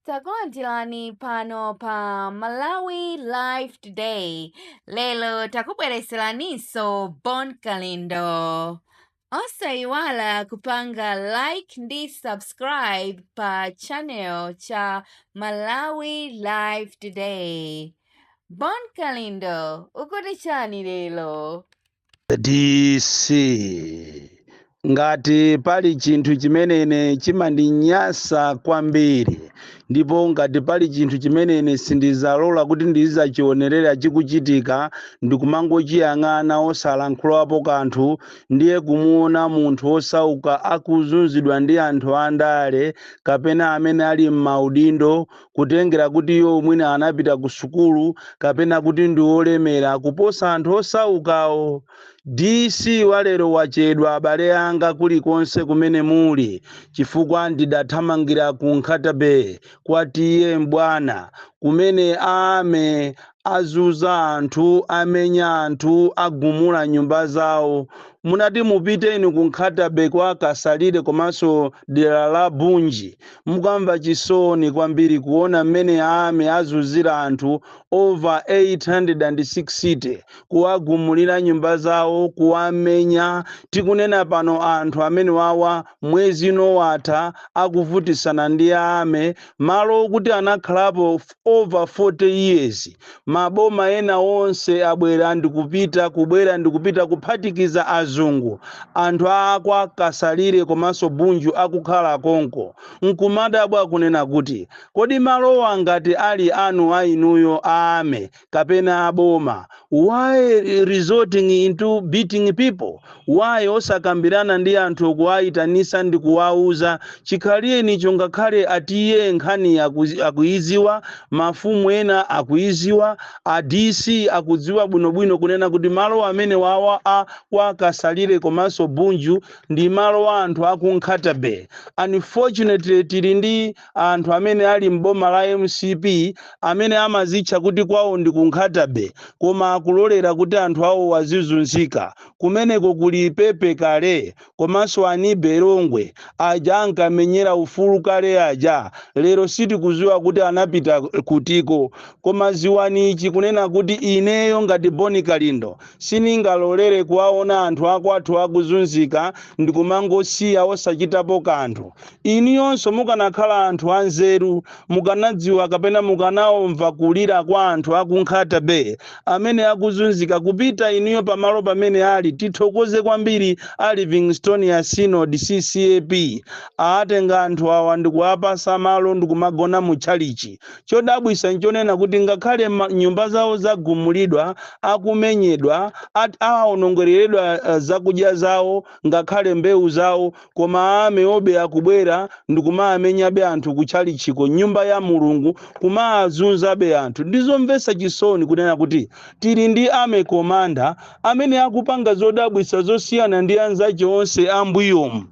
takulandirani pano pa malawi live today lero takubwereseraninso bon kalindo osayiwala kupanga like ndi subscribe pa channel cha malawi live today bon kalindo ukuti chani lero DC ngati pali chinthu chimene ine chimandinyasa kwambiri ndipo ngati pali chinthu chimene ine sindizalola kuti ndizachionerera chikuchitika ndikumangochiyang'ana osalankhulapo kanthu ndiye kumuona munthu osauka akuzunzidwa ndi anthu andale kapena amene ali m'maudindo kutengera kuti iwo mwina anapita ku sukulu kapena kuti ndi olemera kuposa anthu osaukawo. DC walero wachedwa abale anga kulikonse kumene muli chifukwa ndidathamangira ku Nkhata Bay kwa TA M'bwana kumene a Army azunza anthu, amenya anthu, agumula nyumba zawo. Munati mupite inu ku Nkhatabay kwa Kasalire komanso dera la Bunju. Mukamva chisoni kwambiri kuona mmene a army azunzira anthu over 860, kuwagumulira nyumba zawo, kuwamenya. Tikunena pano anthu amenewawa mwezi uno watha akuvutisana ndi a army. Malo okuti anakhalapo over 40 years maboma ena onse abwera ndikupita kubwera ndikupita kuphatikiza azungu anthu akwa kasalire komanso bunju akukhala konko nkumadabwa kunena kuti kodi malowa ngati ali anu ainuyo a army kapena aboma why resorting into beating people why osakambirana ndi anthu kuwayitanisa ndi kuwauza chikhale nicho ngakhale a TA nkhani akuiziwa mafumu ena akuiziwa a dc akudziwa bwinobwino kunena kuti malo amene wawa a kwa kasalire komanso bunju ndi malo a anthu akunkhata bay unfortunately tili ndi anthu amene ali m'boma la mcp amene amazitcha kuti kwawo ndi ku nkhatabay koma akulolera kuti anthu awo azizunzika kumeneko kuli pepe kale komanso anibe longwe aja ankamenyera ufulu kale aja lero sitikuziwa kuti anapita kutiko koma ziwani ichi kunena kuti ineyo ngati bon kalindo siningalolere kuwaona anthu akwathu akuzunzika ndikumangosiya osachitapo kanthu Inuyonso mukanakhala anthu anzeru, mukanadziwa kapena mukanaomva kulira kwa anthu aku Nkhata Bay amene akuzunzika kupita inuyo pamalo pamene ali tithokoze kwambiri a Livingstonia Synod CCAP aatenga anthu awa ndikuwapasa malo ndkumagona mu tchalitchi chodabwisa nchonena kuti ngakhale nyumba zawo zagumulidwa akumenyedwa aawonongeleledwa zakudya zawo ngakhale mbewu zawo Koma army yobe akubwera ndikumaamenyabe anthu ku tchalitchiko, m'nyumba ya Mulungu, kumaazunzabe anthu. Ndi zomvetsa chisoni kunena kuti tili ndi army commander amene akupanga zodabwitsa zosiyana ndi anzache onse a mbuyomu.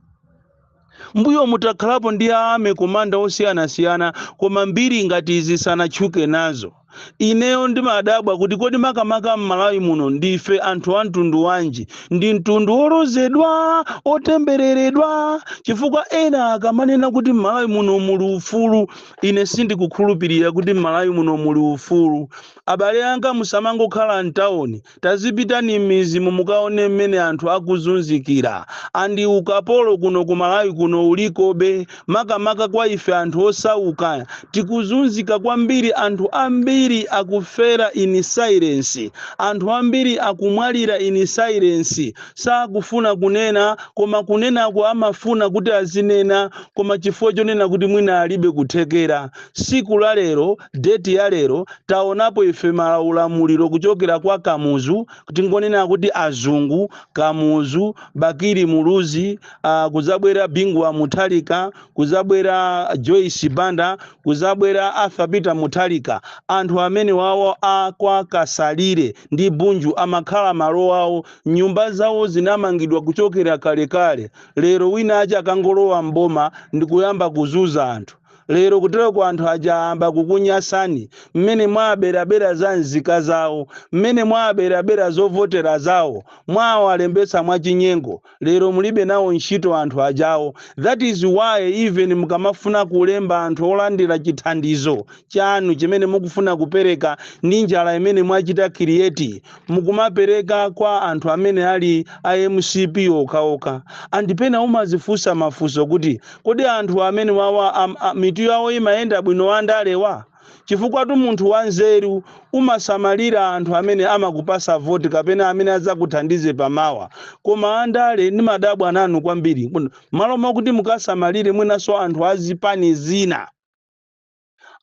Mbuyomu takhalapo ndi a army commander osiyanasiyana koma mbiri ngati izi sanatchuke nazo. Ineyo ndimadabwa kuti kodi makamaka m'Malawi muno ndife anthu a mtundu wanji? Ndi mtundu wolozedwa, otembereredwa? Chifukwa ena akamanena kuti m'Malawi muno muli ufulu, ine sindikukhulupirira kuti m'Malawi muno muli ufulu. Abale anga musamangokhala m'tauni Tazipitani mmidzimu mukaone mmene anthu akuzunzikira and ukapolo kuno ku Malawi kuno ulikobe makamaka kwa ife anthu osauka tikuzunzika kwambiri anthu ambiri akufera in silence anthu ambiri akumwalira in silence sakufuna kunena koma kunenako amafuna kuti azinena koma chifukwa chonena kuti mwina alibe kuthekera siku la lero, date ya lero, taonapo ife ma ulamuliro kuchokera kwa Kamuzu, tingonena kuti azungu, Kamuzu, Bakili Muluzi, uh, kuzabwera Bingu wa Mutharika, kuzabwera Joyce Banda, kuzabwera Arthur Peter Mutharika. Anthu amenewawo a kwa Kasalire ndi Bunju amakhala malo awo, nyumba zawo zinamangidwa kuchokera kalekale. Lero wina aja akangolowa mboma ndikuyamba kuzuza anthu. lero kuteroko anthu aja ayamba kukunyasani mmene mwaaberabera za nzika zawo mmene mwaaberabera zovotera zawo mwawalembetsa mwachinyengo lero mulibe nawo ntchito anthu ajawo that is why even mukamafuna kulemba anthu olandira chithandizo chanu chimene mukufuna kupereka ndi njala imene mwachita create mukumapereka kwa anthu amene ali a mcp okhaokha and pena umazifunsa mafunso kuti Kodi anthu amenewawa mitu yawo imayenda bwino andalewa? Chifukwatu munthu wanzeru umasamalira anthu amene amakupasa voti kapena amene adzakuthandize pamawa. Koma andale ndimadabwa nanu kwambiri. Mmalo mokuti mukasamalire mwinanso anthu a zipani zina.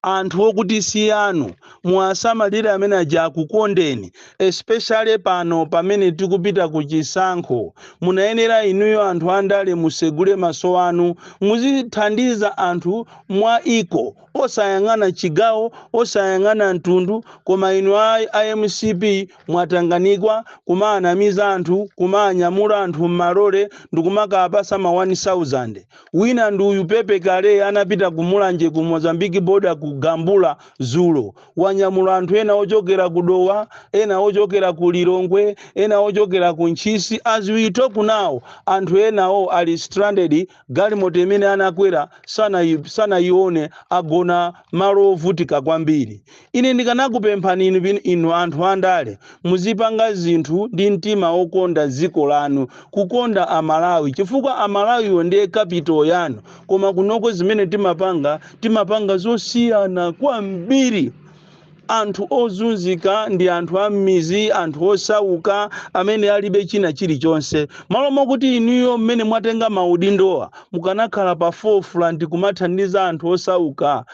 anthu okuti si anu muwasamalire amene aja akukondeni especially pano pamene tikupita ku chisankho munayenera inuyo anthu andale musegule maso anu muzithandiza anthu mwa iko osayang'ana chigawo osayang'ana mtundu koma inu a, a mcp Mwatanganikwa kumaanamiza anthu kumaanyamura anthu m'malole ndkumakaapasa ma 1000. Wina ndi uyu Pepe Kale anapita ku Mulanje ku Mozambique border ku gambula zulo. Wanyamula anthu ena ochokera ku Dowa, ena ochokera ku Lilongwe, ena ochokera ku Ntchisi as we talk now anthu enawo ali stranded Galimoto imene anakwera sanayi- sanayione, agona malo ovutika kwambiri. Ine ndikanakupemphani inu, bin- inu anthu andale, muzipanga zinthu ndi mtima wokonda dziko lanu, kukonda Amalawi, chifukwa Amalawiwo ndiye capital yanu. Koma kunoko zimene timapanga, timapanga zosiyana kwambiri. anthu ozunzika ndi anthu am'mizi anthu osauka amene alibe china chilichonse malo mokuti inuyo mmene mwatenga maudindowa mukanakhala pa forefront kumathandiza anthu osauka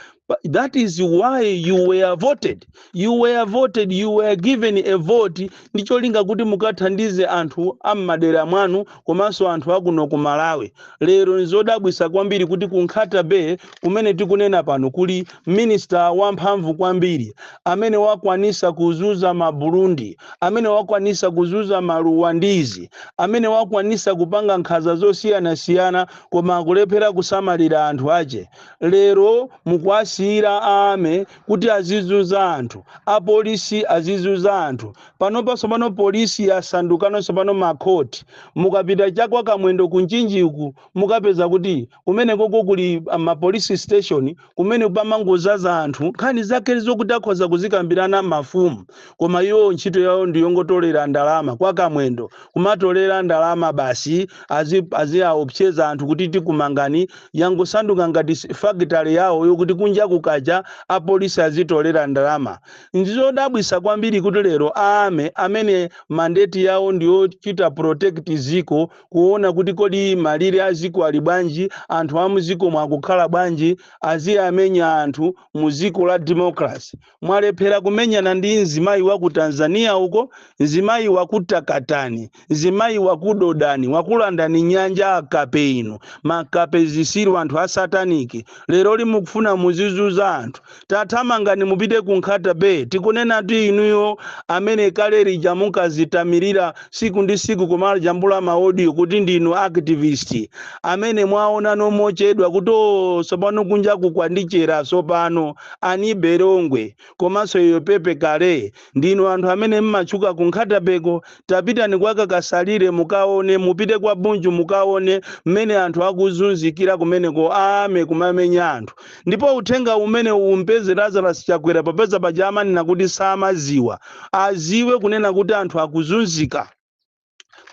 that is why you were voted you were voted you were given a vote ndi cholinga kuti mukathandize anthu a m'madera mwanu komanso anthu a kuno ku Malawi. Lero n'zodabwisa kwambiri kuti ku Nkhata Bay kumene tikunena pano kuli minista wamphamvu kwambiri amene wakwanisa kuzuza ma Burundi, amene wakwanisa kuzuza ma Ruwandizi, amene wakwanisa kupanga nkhaza zosiyanasiyana koma akulephera kusamalira anthu ache. Lero mukuwasiyira a Army kuti azizuza anthu apolisi azizuza anthu panopa tsopano polisi yasandukano tsopano makhoti mukapita cha kwa Kamwendo ku Mchinjiku mukapeza kuti kumenekoko kuli ah, mapolisi station kumene pamangozaza anthu nkhani zake zokuti akhoza kuzikambirana mafumu koma iwo ntchito yawo ndi yongotolera ndalama kwa Kamwendo kumatolera ndalama basi azi aziaopseza anthu kuti tikumangani yangosanduka ngati s- factory yawo yokuti kunja kukacha apolisi azitolera ndalama ndizodabwisa kwambiri kuti lero a Army amene mandate yawo ndiyochita protect ziko kuona kuti kodi malire a ziko ali bwanji anthu a muziko mwakukhala bwanji aziwamenya anthu mu ziko la democracy mwalephera kumenyana ndi mzimayi wa ku Tanzania uko, mzimayi wakutakatani, mzimayi wakudodani, wakulandani nyanja akape inu, makape zisiru anthu a sataniki. Leroli mukufuna muzizuza anthu. Tathamangani mupite ku Nkhata Bay. Tikunenatu inuyo amene kale lija munkazitamirira siku ndi siku kumajambula ma audio kuti ndinu activist. Amene mwaonano mochedwa kuti oh, sopano kunja kukwandichera sopano. Anibe Longwe komanso Yoyo Pepe Kale ndinu anthu amene mmatchuka ku Nkhata Bay ko tapitani kwa Kakasalire mukaone mupite kwa Bunju mukaone mmene anthu akuzunzikira kumeneko a army kumamenya anthu ndipo uthenga umenewu umpeze Lazarus Chakwera popeza paja amanena kuti samaziwa aziwe kunena kuti anthu akuzunzika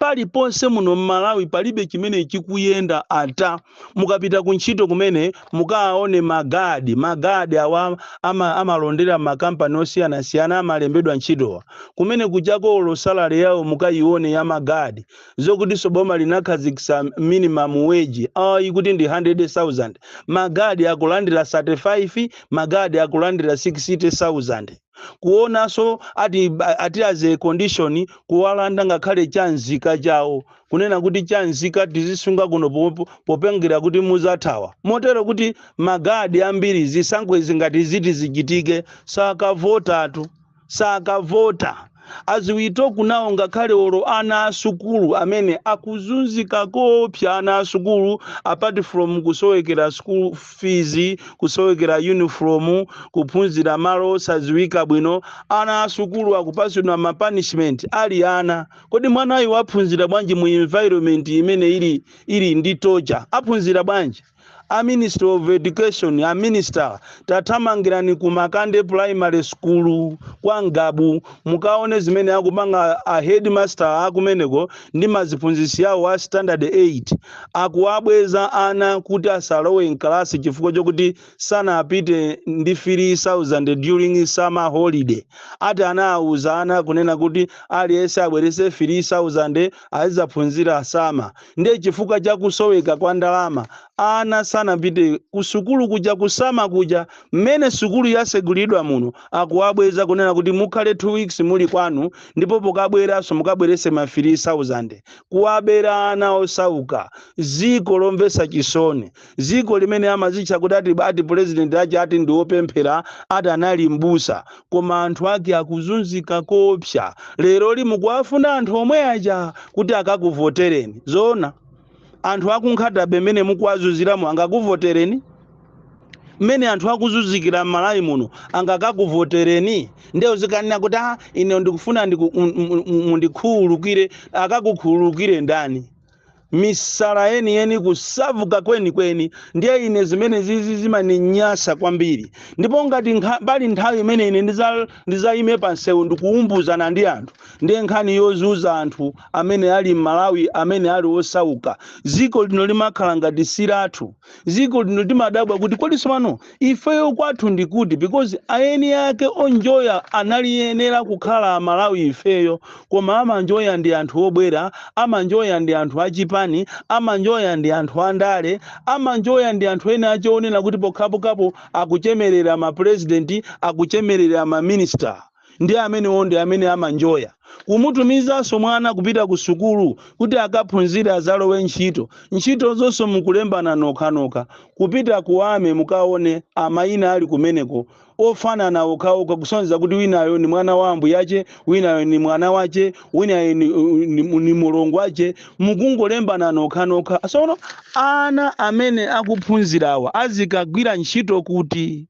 paliponse muno mmalawi palibe chimene chikuyenda ata mukapita ku ntchito kumene mukaone magadi magadi awa ama, amalondera mmakampani osiyanasiyana amalembedwa ntchitowa kumene kuchako olo salary yawo mukayione ya magadi zokutinso boma linakhazikitsa minimum wage ayi kuti ndi 100000 magadi akulandira 35 magadi akulandira 60000 kuonanso ati ati as a condition kuwalanda ngakhale cha nzika chawo kunena kuti cha nzika tizisunga kuno po- po- potengera kuti muzathawa motero kuti magadi ambiri zisankho izi ngati ziti zichitike sakavotatu sakavota as we talk now ngakhale olo ana asukulu amene akuzunzika koopsa ana asukulu apart from kusowekera school fees kusowekera uniform kuphunzira malo osaziwika bwino ana asukulu akupasidwa ma punishment ali ana kodi mwanayu waphunzira bwanji mu environment imene ili ili ndi torture aphunzira bwanji a ministry of education a minister tathamangirani ku makande primary school kwa Ngabu mukaone zimene akupanga a headmaster akumeneko ndi maziphunzitsi awo a standard 8 akuwabweza ana kuti asalowe mkalasi chifukwa chokuti sanapite ndi 3000 during summer holiday ati anawuza ana kunena kuti aliyense abwerese 3000 azizaphunzira summer Ndiye chifukwa cha kusoweka kwa ndalama ana sanapite kusukulu kuja ku summer kuja mmene sukulu yasegulidwa muno akuwabweza kunena kuti mukhale 2 weeks muli kwanu ndipo pokabweranso mukabwerese ma 3000 kuwabera ana osauka ziko lomvesa chisoni Ziko amene amazitcha kuti ati ati president ache ati ndi opemphera ati anali m'busa koma anthu ake akuzunzika koopsa leroli mukuwafuna anthu omwe aja kuti akakuvotereni zoona anthu akumkhutabe mmene mukuwazunziramu angakuvotereni mmene anthu akuzunzikira m'malawi muno angakakuvotereni nde uzikanena kuti ah ine ndikufuna ndiku- m- m- m- mundikhululukire akakukhululukire ndani misala yeniyeni kusavuka kwenikweni ndiye ine zimenezizi zimaninyasa kwambiri ndipo ngati nkha- pali nthawi imene ine ndiza- ndizayime pa msewu ndikuumbuzana ndi anthu ndiye nkhani yozunza anthu amene ali m'malawi amene ali osauka dziko lino limakhala ngati silathu ziko lino timadabwa kuti kodi tsopano ifeyo kwathu ndi kuti because eni ake onjoya anayenera kukhala amalawi ifeyo koma amanjoya ndi anthu obwera amanjoya ndi anthu achipani amanjoya ndi anthu andale amanjoya ndi anthu ena ache onena kuti pokhapokhapo akuchemerera mapurezidenti akuchemerera maminista Ndiye amenewo ndi amene amanjoya. Kumutumizanso mwana kupita kusukulu kuti akaphunzire adzalowe ntchito, ntchito zonso mukulembana nokhanokha. Kupita ku Army mukaone maina ali kumeneko ofanana okhaokha kusonyeza kuti winayo ndi mwana wa ambuyache, winayo ndi mwana wache, winayo ndi, ndi, ndi mulongwache mukungolembana nokhanokha. Sono ana amene akuphunzirawa azikagwira ntchito kuti?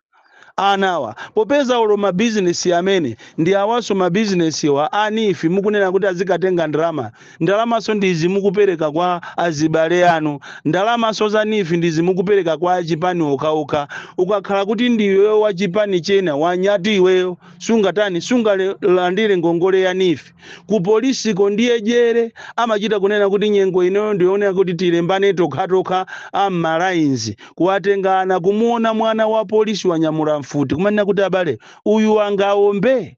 anawa popeza olo ma business amenewa ndi awaso ma business wa a neef mukunena kuti azikatenga ndalama ndalamaso ndi izi mukupereka kwa azibale anu ndalamaso za neef ndi izi mukupereka kwa achipani okhaokha ukakhala kuti ndi iweyo wa chipani china wanyatu iweyo sungatani sungalandire ngongole ya neef Ku polisiko ndiye jere, amachita kunena kuti nyengo inoyo ndiyonena kuti tilembane tokhatokha a m'ma lines kuwatenga ana, kumuona mwana wa polisi wanyamula mfuti kumanena kuti abale uyu angaombe?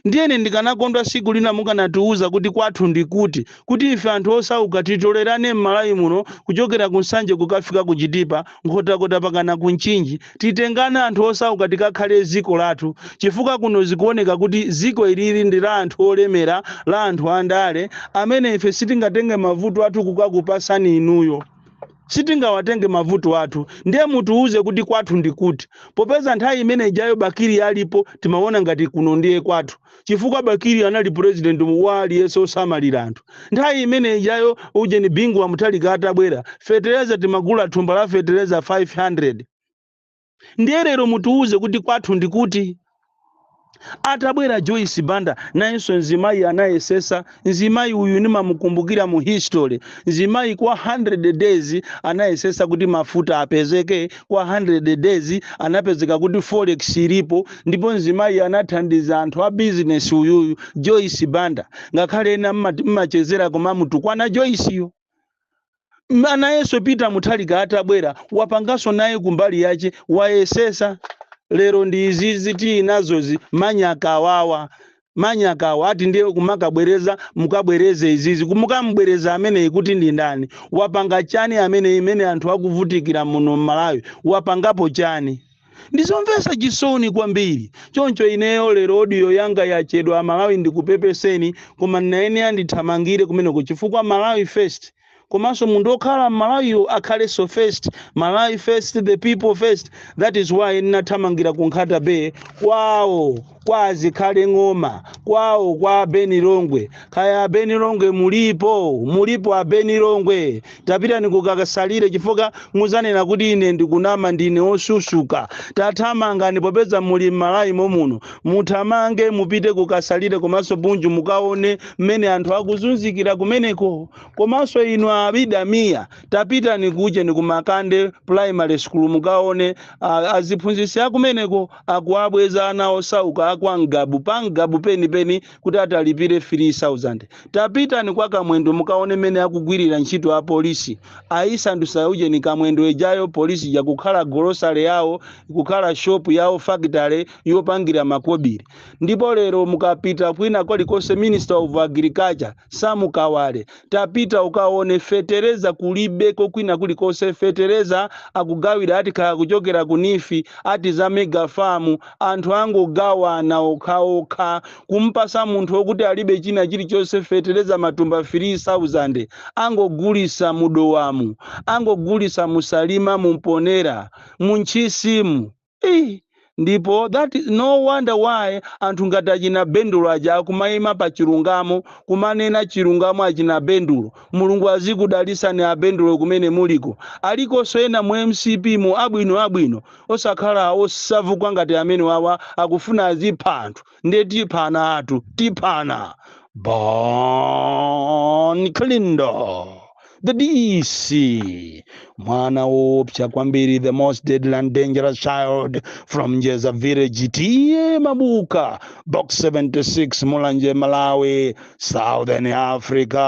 Ndiye ine ndikanakondwa siku lina mukanatiuza kuti kwathu ndi kuti, kuti ife anthu osauka titolerane m'Malawi muno kuchokera ku Nsanje kukafika ku Chitipa, Nkhotakota pakana ku Mchinji titengane anthu osauka tikakhale ziko lathu chifukwa kuno zikuoneka kuti ziko ilili ndi la anthu olemera la anthu andale amene ife sitingatenge mavuto athu kukakupasani inuyo sitingawatenge mavuto athu ndiye mutiuze kuti kwathu ndikuti popeza nthawi imene ijayo Bakili alipo timaona ngati kuno ndiye kwathu chifukwa bakili anali president wa aliyense osamalira anthu nthawi imene ijayo ujeni bingu wa mutharika atabwera fetereza timagula thumba la fetereza 500 ndiye lero mutiwuze kuti kwathu ndikuti atabwera joyce banda nayenso mzimayi anayesesa mzimayi uyu ndimamukumbukira mu history mzimayi kwa 100 days anayesesa kuti mafuta apezeke kwa 100 days anapezeka kuti forex ilipo ndipo mzimayi anathandiza anthu a business uyuyu joyce banda ngakhale ena mmachezera koma mutukwana joyceyo Anayenso peter mutharika atabwera wapanganso naye kumbali yake wayesesa lero ndi izizi tili nazozi manyakawawa manyakawa ati ndiye kumakabwereza mukabwereze izizi kumukamubwereza ameneyi kuti ndi ndani wapanga chani ameneyi imene anthu akuvutikira muno m'malawi wapangapo chani ndizomvetsa chisoni kwambiri choncho ineyo lero audio yanga yachedwa amalawi ndikupepeseni koma ndinayenera ndithamangire kumeneko chifukwa malawi first komanso munthu okhala mmalawiyo akhalenso first malawi first the people first that is why ndinathamangira ku nkhata bay kwawo kwa azikhale ng'oma kwawo kwa a ben longwe kaya a ben longwe mulipo mulipo a ben longwe tapitani kukasalire chifukwa muzanena kuti ine ndikunama ndine osusuka tathamangani popeza muli m'malawi momuno muthamange mupite kukasalire komanso bunju mukaone mmene anthu akuzunzikira kumeneko komanso inu abida mia tapitani ku ujeni kumakande primary school mukaone aziphunzitsi akumeneko akuwabweza ana osauka a kwa Ngabu pa Ngabu penipeni kuti ati alipire 3,000. Tapitani kwa Kamwendo mukaone mmene akugwirira ntchito apolisi. Ayisandusa ujeni Kamwendo ijayo polisi ija kukhala golosale yawo, kukhala shopu yawo, fakitale yopangira makobiri. Ndipo lero mukapita kwina kulikonse Minister of Agriculture, Sam Kawale, tapita ukaone fetereza kulibeko kwina kulikonse fetereza akugawira ati kaya kuchokera ku NEEF ati za mega farm anthu angogawana okhaokha kumpasa munthu okuti alibe china chilichonse fetereza matumba 3000 angogulisa mu Dowamu angogulisa mu Salima mu Mponela mu Ntchisimu Iii ndipo that is no wonder why anthu ngati achina bendulo aja akumaima pa chilungamo kumanena chilungamo achina bendulo mulungu azikudalisani abendulo kumene muliko alikonso ena mu mcp mu abwino abwino osakhala osabvuka ngati amenewawa akufuna azipha anthu ndiye tiphanatu tiphana bon kalindo the dc mwana woopsa kwambiri the most deadly and dangerous child from njeza village T/A mabuka box 76 mulanje malawi southern africa